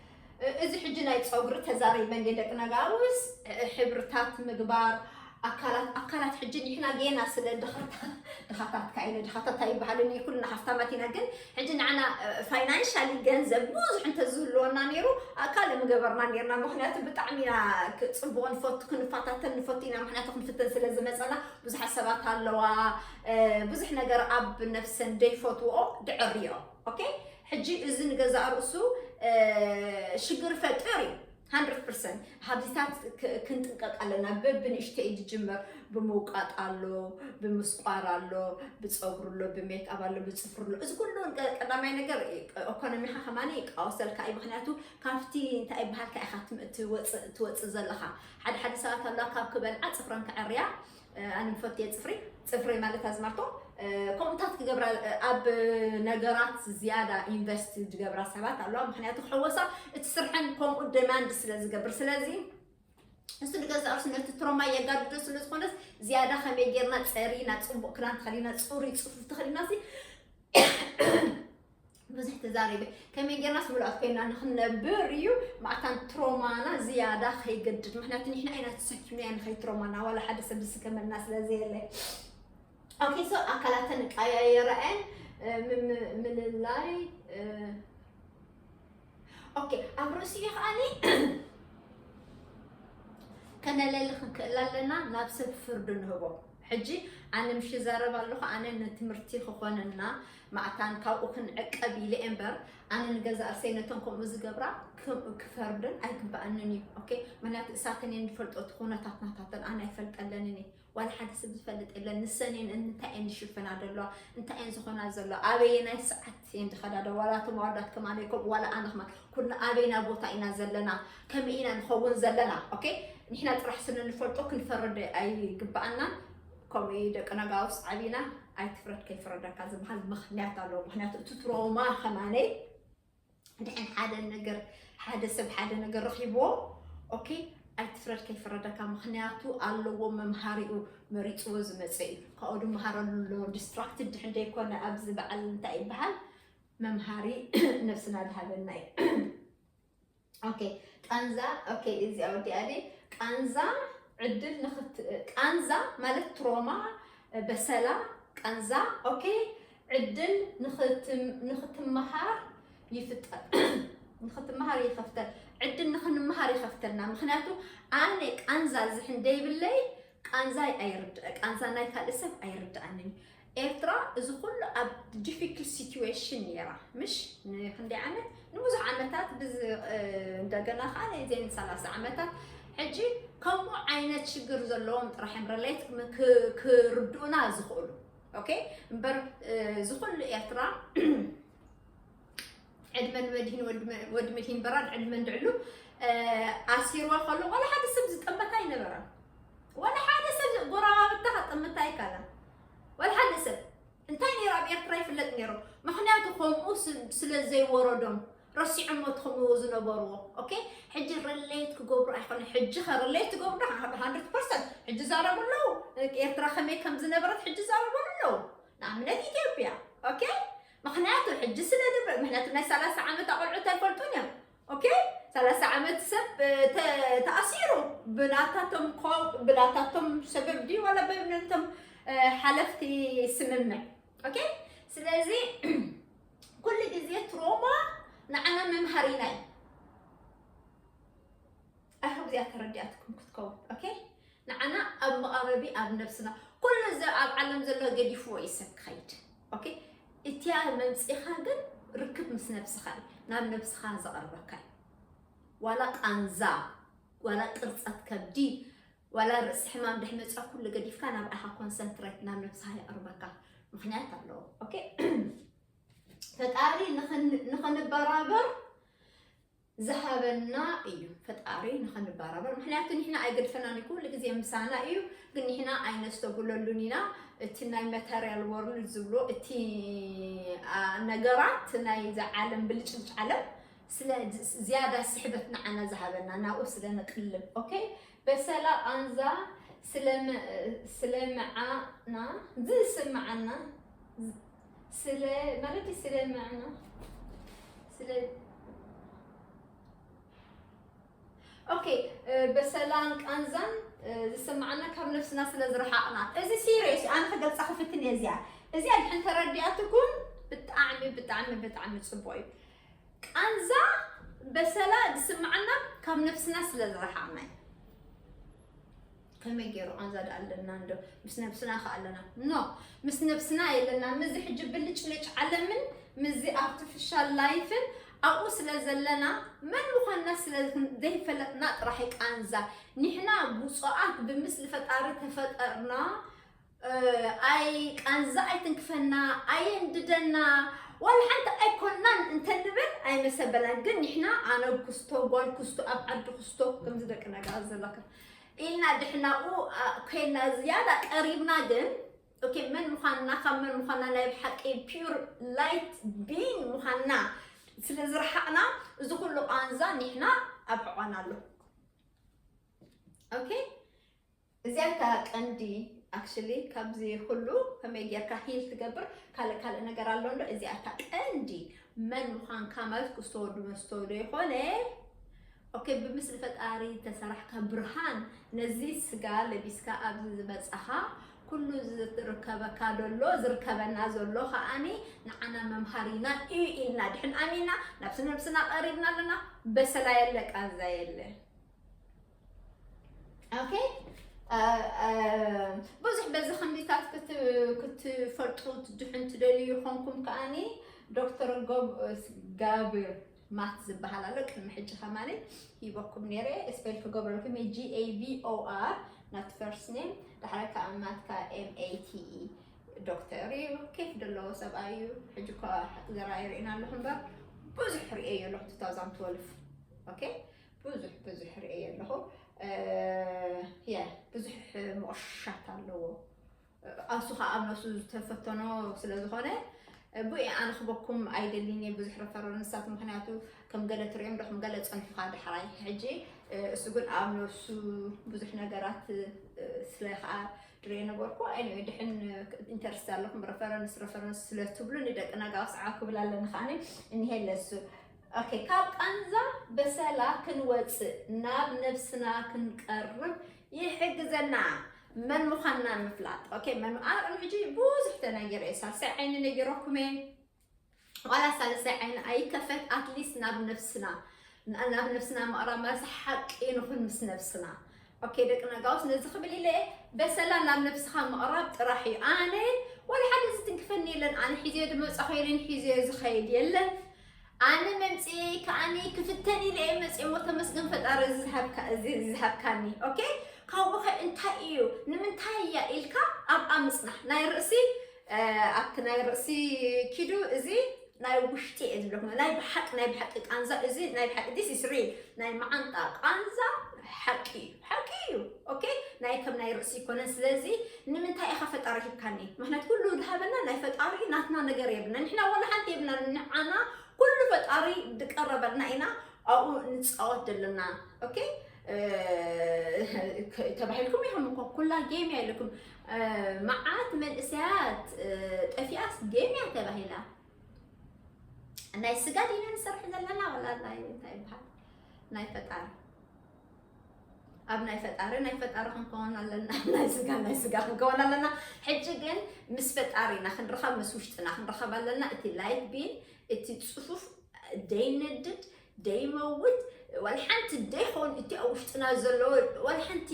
እዚ ሕጂ ናይ ፀጉሪ ተዛሪበ እንዴ ደቂ ነጋውስ ሕብርታት ምግባር ኣካላት ኣካላት ሕጂ ንሕና ጌና ስለ ድኻታት ድኻታት ካይነ ድኻታት ኣይበሃልን እዩ ኩልና ሃፍታማት ኢና ግን ሕጂ ንዓና ፋይናንሻሊ ገንዘብ ብዙሕ እንተዝህልወና ነይሩ ካልእ ምገበርና ነርና ምክንያቱ ብጣዕሚ ኢና ፅቡቕ ንፈቱ ክንፋታተን ንፈቱ ኢና ምክንያቱ ክንፍትን ስለ ዝመፀና ብዙሓት ሰባት ኣለዋ ብዙሕ ነገር ኣብ ነፍሰን ደይፈትዎ ድዕርዮ ኦኬ ሕጂ እዚ ንገዛእ ርእሱ ሽግር ፈጥር እዩ። ሃንድረድ ፐርሰንት ሃብዚታት ክንጥንቀቅ ኣለና በብንእሽተይ ዝጅመር ብምውቃጥ ኣሎ ብምስቋር ኣሎ ብፀጉሪ ኣሎ ብሜክኣብ ኣሎ ብፅፍሪ ኣሎ እዚ ኩሉ ቀዳማይ ነገር ኢኮኖሚካ ከማኒ ይቃወሰልካ እዩ ምክንያቱ ካብቲ እንታይ ይበሃልካ ኢካ ትወፅእ ዘለካ ሓደ ሓደ ሰባት ኣለዋ ካብ ክበልዓ ፅፍረን ክዐርያ ኣነ ምፈትየ ፅፍሪ ፅፍሪ ማለት ኣዝማርቶ ከምኡታት ክገብራ ኣብ ነገራት ዝያዳ ኢንቨስት ዝገብራ ሰባት ኣለዋ ምክንያቱ ሕወሳ እቲ ስርሐን ከምኡ ደማንድ ስለ ዝገብር ስለዚ እሱ ንገዛ ርሱ ነቲ ትሮማ የጋድዶ ስለ ዝኾነስ ዝያዳ ከመይ ጌርና ፀሪና ፅቡቅ ክዳን ተኸዲና ፅሩይ ፅፉፍ ተኸዲና ብዙሕ ተዛሪበ ከመይ ጌርናስ ምሉኣት ኮይና ንክንነብር እዩ ማእታን ትሮማና ዝያዳ ከይገድድ ምክንያቱ ንሕና ኢና ተሰኪምናያ ንከይትሮማና ዋላ ሓደ ሰብ ዝስከመልና ስለዘየለ ኦኬ ሶ ኣካላተን ቀያየረአን ምልላይ ኦኬ ኣብ ርእሲኡ ከዓኒ ከነለሊ ክንክእል ኣለና ናብ ሰብ ፍርዱ ንህቦ ሕጂ ኣነ ምሽ ይዛረብ ኣለኹ ኣነ ንትምህርቲ ክኾነና ማዕታን ካብኡ ክንዕቀብ ኢለ እምበር ኣነ ንገዛ እርሰይ ነቶም ከምኡ ዝገብራ ክፈርድን ኣይግባእንን እዩ ኦኬ ምክንያቱ እሳትን እየ ንፈልጦ እቲ ኩነታት ናታተን ኣነ ኣይፈልጠለንን እየ ዋላ ሓደ ሰብ ዝፈልጥ የለን። ንሰን እየን እንታይ እየን ዝሽፈና ዘለዋ እንታይ እየን ዝኾና ዘለዋ ኣበየናይ ሰዓት እየን ዝኸዳ ዶ ዋላ እቶም ኣወዳት ከማን ከምኡ ዋላ ኣነ ከማን ኩልና ኣበይና ቦታ ኢና ዘለና ከመይ ኢና ንኸውን ዘለና ኦኬ ንሕና ጥራሕ ስንንፈልጦ ክንፈርድ ኣይግባኣና ከምኡ እዩ ደቂ ነጋውስ ዓቢና ኣይትፍረድ ከይፍረደካ ዝበሃል ምክንያት ኣለዎ ምክንያቱ እቲ ትሮማ ከማነይ ድሕን ሓደ ነገር ሓደ ሰብ ሓደ ነገር ረኺብዎ ኦኬ ኣይትፍረድ ከይፍረደካ ምክንያቱ ኣለዎ መምሃሪኡ መሪፅዎ ዝመፀ እዩ ካብኡ ድመሃረሉ ኣለዎ ዲስትራክትድ ድሕን ዘይኮነ ኣብዚ በዓል እንታይ ይበሃል መምሃሪ ነብስና ዝሃበና እዩ ኦኬ ቃንዛ ኦኬ እዚኣ ወዲኣ ድየ ቃንዛ ዕድል ንክት ቃንዛ ማለት ትሮማ በሰላ ቃንዛ ኦኬ ዕድል ንክትም- ንክትመሃር ይፍጠር ንክትመሃር ይኸፍተል ዕድል ንክንመሃር ይኸፍተልና ምክንያቱ ኣነ ቃንዛ ዝሕን ደይብለይ ቃንዛይ ኣይርድ ቃንዛ ናይ ካልእ ሰብ ኣይርድኣንን እዩ። ኤርትራ እዚ ኩሉ ኣብ ዲፊክልት ሲትዌሽን ኔራ ምሽ ንክንደይ ዓመት ንብዙሕ ዓመታት እንደገና ከዓ ናይ ዜን ሰላሳ ዓመታት ሕጂ ከምኡ ዓይነት ሽግር ዘለዎም ጥራሕ እዮም ረሌት ክርድኡና ዝኽእሉ ኦኬ እምበር ዝኹሉ ኤርትራ ዕድመ ንመድሂን ወዲ መድሂን በራድ ዕድመ እንድዕሉ ኣሲርዋ ከሎ ዋላ ሓደ ሰብ ዝጠመታ ኣይነበረን ዋላ ሓደ ሰብ ጎረባብታ ከጠምታ ኣይካለን ዋላ ሓደ ሰብ እንታይ ነይሩ ኣብ ኤርትራ ይፍለጥ ነይሩ ምክንያቱ ከምኡ ስለ ዘይወረዶም ረሲዖም ሞት ከምኡ ዝነበርዎ ኦኬ ሕጂ ርሌት ክገብሩ ኣይኮነ ሕጂ ከ ርሌት ትገብሩ ዶ ሃንድርድ ፐርሰንት ሕጂ ዛረቡ ኣለዉ ኤርትራ ከመይ ከም ዝነበረት ሕጂ ዛረቡ ኣለዉ ንኣብነት ኢትዮጵያ ኦኬ ምክንያቱ ሕጂ ስለ ድብ ምክንያቱ ናይ ሰላሳ ዓመት ኣቆልዑት ኣይፈልጡን እዮም ኦኬ ሰላሳ ዓመት ሰብ ተኣሲሩ ብናታቶም ብናታቶም ሰበብ ድዩ ዋላ በብነቶም ሓለፍቲ ስምምዕ ኦኬ ስለዚ ኩሉ ግዜ ትሮማ ንዓና መምሃሪና እዩ ኣይሆብ እዚኣ ተረዲኣትኩም ክትከውን ኦኬ ንዓና ኣብ መቓበቢ ኣብ ነብስና ኩሉ እዚ ኣብ ዓለም ዘሎ ገዲፍዎ እዩ ሰብ ክኸይድ ኦኬ እቲያ መምፂኻ ግን ርክብ ምስ ነብስኻ እዩ ናብ ነብስኻ ዘቕርበካ እዩ ዋላ ቃንዛ ዋላ ቅርፀት ከብዲ ዋላ ርእሲ ሕማም ድሕ መፅዖ ኩሉ ገዲፍካ ናብ ኣኻ ኮንሰንትሬት ናብ ነብስኻ የቕርበካ ምክንያት ኣለዎ ኦኬ ፈጣሪ ንኽንበራበር ዝሃበና እዩ ፈጣሪ ንኸንበራበር ምክንያቱ ንሕና ኣይገድፈናን እዩ ኩሉ ግዜ ምሳና እዩ ግን ንሕና ኣይነስተብለሉን ኢና እቲ ናይ ማተርያል ወርልድ ዝብሎ እቲ ነገራት ናይ ዝዓለም ብልጭልጭ ዓለም ስለ ዝያዳ ስሕበት ንዓና ዝሃበና ናብኡ ስለ ንቅልብ ኦኬ በሰላ ቃንዛ ስለምዓና ዝስምዓና ስለ ማለት ስለ መዕና ስለ ኦኬ በሰላን ቃንዛን ዝስምዓና ካብ ነብስና ስለ ዝረሓቕና እዚ ሲሪየስ ኣነ ክገልፃ ክፍትን እየ እዚኣ እዚኣ ድሕን ተረዲኣትኩም ብጣዕሚ ብጣዕሚ ብጣዕሚ ፅቡቅ እዩ ቃንዛ በሰላ ዝስምዓና ካብ ነብስና ስለ ዝረሓቕና እዩ ከመይ ገይሩ ቃንዛ ዳ ኣለና እንዶ ምስ ነብስና ከ ኣለና ኖ ምስ ነብስና የለና ምዚ ሕጂ ብልጭልጭ ዓለምን ምዚ ኣርቲፊሻል ላይፍን ኣብኡ ስለ ዘለና መን ምዃንና ስለ ዘይፈለጥና ጥራሕ ቃንዛ ንሕና ብፁዓት ብምስሊ ፈጣሪ ተፈጠርና ኣይ ቃንዛ ኣይትንክፈና ኣየንድደና ዋላ ሓንቲ ኣይኮናን እንተንብል ኣይመሰበላን ግን ንሕና ኣነ ኩስቶ ጓል ኩስቶ ኣብ ዓዲ ኩስቶ ከምዚ ደቂ ነገራት ዘለካ ኢልና ድሕናኡ ኮይና ዝያዳ ቀሪብና ግን ኦኬ መን ምዃንና ካብ መን ምዃንና ናይ ብሓቂ ፒር ላይት ቢን ምዃንና ስለ ዝረሓቕና እዚ ኩሉ ቃንዛ ኒሕና ኣብ ሕቋና ኣሎ ኦኬ እዚኣ እታ ቀንዲ actually ካብዚ ኩሉ ከመይ ጌርካ ሂል ትገብር ካልእ ካልእ ነገር ኣሎ እንዶ እዚኣ እታ ቀንዲ መን ምዃንካ ማለት ክስተወዱ መስተወዶ ይኾነ ኦኬ ብምስሊ ፈጣሪ ተሰራሕካ ብርሃን ነዚ ስጋ ለቢስካ ኣብዚ ዝመጻኻ ኩሉ ዝርከበካ ደሎ ዝርከበና ዘሎ ከዓኒ ንዓና መምሃሪና እዩ ኢልና ድሕን ኣሚና ናብ ስነብስና ቀሪብና ኣለና በሰላ የለ ቃንዛ የለ ኦኬ ብዙሕ በዚ ከምዚታት ክትፈልጡ ትድሕን ትደልዩ ይኾንኩም ከዓኒ ዶክተር ጋብር ማት ዝበሃል ኣሎ ቅድሚ ሕጂ ከማኒ ሂበኩም ነይረ ስፔል ክገብረልኩም እየ ጂኤቪኦኣር ናት ፈርስት ኔም ዳሕረ ከዓ ማትካ ኤምኤቲኢ ዶክተር እዩ ኬፍ ዘለዎ ሰብኣይ እዩ ሕጂ እኳ ዘረኣዩ ርኢና ኣለኹ እምበር ብዙሕ ርእየዮ ኣለኹ 2012 ኦኬ ብዙሕ ብዙሕ ርእየ ኣለኹ የ ብዙሕ ሞሻት ኣለዎ ኣብሱ ከዓ ኣብ ነሱ ዝተፈተኖ ስለ ዝኾነ ብኡ ኣነ ክበኩም ኣይደልን እየ ብዙሕ ረፈረንሳት ምክንያቱ ከም ገለ ትሪኦም ዶ ከም ገለ ፀንሑካ ዳሕራይ ሕጂ እሱ ግን ኣብ ነሱ ብዙሕ ነገራት ስለ ከዓ ድሬ ነበርኩ ኣይ ድሕን ኢንተርስት ኣለኩም ረፈረንስ ረፈረንስ ስለትብሉ ንደቂ ነጋውስ ዓው ክብል ኣለኒ ከዓኒ እኒሄ ለሱ ኦኬ ካብ ቃንዛ በሰላ ክንወጽእ ናብ ነብስና ክንቀርብ ይሕግዘና መን ምዃንና ምፍላጥ ኦኬ መን ኣብ ቅድሚ ሕጂ ብዙሕ ተነጊረ ሳልሳይ ዓይኒ ነጊረኩም እየ ዋላ ሳልሳይ ዓይኒ ኣይከፈት ኣትሊስት ናብ ነብስና ናብ ነብስና ምቕራብ ማለት ሓቂ ንኹን ምስ ነብስና ኦኬ ደቂ ነጋውስ ነዚ ክብል ኢለ እየ በሰላ ናብ ነብስኻ ምቕራብ ጥራሕ እዩ ኣነ ወላ ሓደ ዝትንክፈኒ የለን ኣነ ሒዘዮ ድመፃኹ የለን ሒዘዮ ዝኸይድ የለን ኣነ መምፅኤ ከዓኒ ክፍተን ኢለ እየ መፅኤ ሞ ተመስገን ፈጣሪ እዚ ዝሃብካ- እዚ ዝሃብካኒ ኦኬ ካብኡ ከ እንታይ እዩ ንምንታይ እያ ኢልካ ኣብኣ ምፅናሕ ናይ ርእሲ አ፣ ኣብቲ ናይ ርእሲ ኪዱ እዚ ናይ ውሽጢ እየ ዝብለኩም ናይ ብሓቂ ናይ ብሓቂ ቃንዛ እዚ ናይ ብሓቂ this is real ናይ መዓንጣ ቃንዛ ሓቂ እዩ ሓቂ እዩ ኦኬ ናይ ከም ናይ ርእሲ ይኮነን ስለዚ ንምንታይ ኢኻ ፈጣሪ ሂብካኒ ምክንያቱ ኩሉ ዝሃበና ናይ ፈጣሪ እዩ ናትና ነገር የብልና ንሕና ወላ ሓንቲ የብልና ንዓና ኩሉ ፈጣሪ ዝቀረበልና ኢና ኣብኡ ንፃወት ዘለና ኦኬ ተባሂልኩም ኢኹም እኮ ኩላ ጌም እያ ኢልኩም መዓት መንእሰያት ጠፊኣስ ጌም እያ ተባሂላ ናይ ስጋ ዲና ንሰርሕ ዘለና ወላ ናይ እንታይ ይበሃል ናይ ፈጣሪ ኣብ ናይ ፈጣሪ ናይ ፈጣሪ ክንከውን ኣለና ናይ ስጋ ናይ ስጋ ክንከውን ኣለና ሕጂ ግን ምስ ፈጣሪና ክንረኸብ ምስ ውሽጥና ክንረኸብ ኣለና እቲ ላይፍ ቢን እቲ ፅፉፍ ደይነድድ ደይመውት ዋላ ሓንቲ ደይኮን እቲ ኣብ ውሽጥና ዘሎ ዋላ ሓንቲ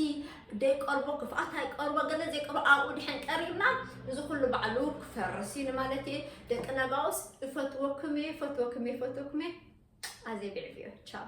ደይቀርቦ ክፍኣት ኣይቀርቦ ገለ ዘይቀርቦ ኣብኡ ድሕን ቀሪብና እዚ ኩሉ ባዕሉ ክፈርስ እዩ ንማለት እየ ደቂ ነጋውስ እፈትወኩም እየ እፈትወኩም እየ እፈትወኩም እየ ኣዘይ ብዕብዮ ቻው